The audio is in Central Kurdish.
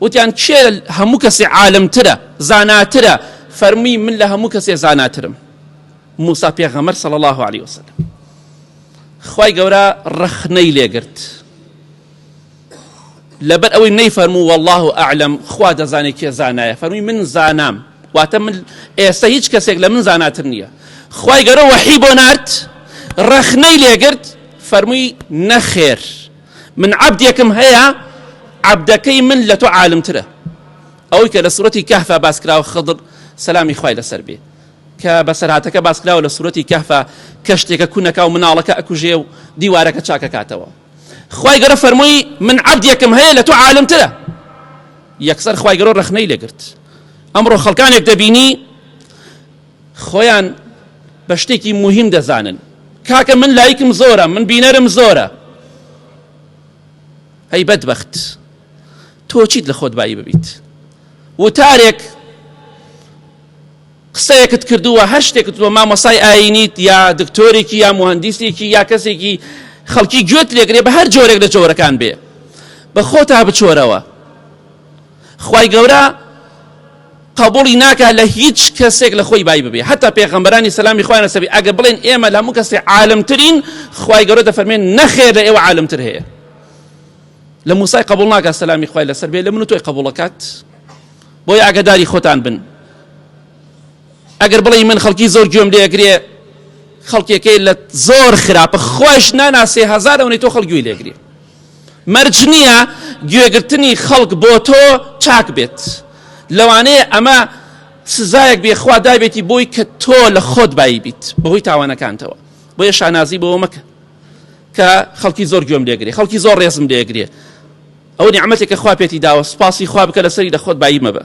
وتیان کێ لە هەموو کەسێ عالم ترە زاناترە فەرمووی من لە هەموو کەسێ زاناترم موسا پێغەمەر صلی الله علیه وسلم خوای گەورە ڕەخنەی لێگرت لەبەر ئەوەی نەی فەرموو والله ئەعلم خوا دەزانێت کێ زانایە فەرمی من زانام واتە من ئێستا هیچ کەسێک لە من زاناتر نییە خوای گەورە وەحی بۆ نارد ڕەخنەی لێگرت فەرمووی نەخێر من عەبدێکم هەیە عەبدەکەی من لە تۆ عالمترە ئەوەی کە لە سورەتی کەهفا باسکراوە خضر سەلامی خوای لەسەر بێ کە بەسەرهاتەکە باسکراوە لە سورەتی کەهفا کە شتێکە کونەکە و مناڵەکە ئەکوژێ و دیوارەکە چاکەکاتەوە خی گەرە فەرمووی من عبدێکم هەیە لە تۆ عالمترە یەکسەر خی گەرۆ ڕخنەی لەگرت ئەمڕۆ خەڵکانێک دەبینی خۆیان بە شتێکی موهیم دەزانن کاکە من لایکم زۆرە من بینەرم زۆرە هەی بەدبەخت تۆ چیت لە خۆت بایی ببیت وتارێک قسەیەکت کردووە هەر شتێکت بۆ مامۆسای ئاینیت یا دکتۆرێکی یا مهندسێکی یا کەسێکی خەڵکی گوێت لێگرێ بە هەر جۆرێک لە جۆرەکان بێ بە خۆتا بچۆرەوە خوای گەورە قبوڵی ناکات لە هیچ کەسێک لە خۆی بای ببێ حتا پێغەمبەرانی سەلامی خوایان لەسەبی ئەگە بڵێن ئێمە لە هەموو کەسێ عالمترین خوای گەورە دەفەرمێن نەخێر لە ئێوە عالمتر هەیە لە موسای قبول ناکات سەلامی خوای لەسەر بێ لە من و تۆی قبولەکات بۆی ئاگداری خۆتان بن ئەگەر بڵێ من خەڵکی زۆر گوێم لێگرێ خەڵکێکەی لە زۆر خراپە خوش ناناسێ هزارەونەی تۆ خەڵگوی لێگرێ مەرج نییە گوێگرتنی خەڵک بۆ تۆ چاک بێت، لەوانەیە ئەمە سزایەک بێ خوا دابێتی بۆی کە تۆ لە خۆت بایی بیت بەهۆی تاوانەکانتەوە، بۆیە شانازی بەوە مەکە کە خەڵکی زۆر گوێم لێگرێ، خەڵکی زۆر ڕێزم لێگرێ، ئەوە نیعمەتێکە خوا پێتی داوە سوپاسی خوا بکە لەسەری لە خۆت بایی مەبە.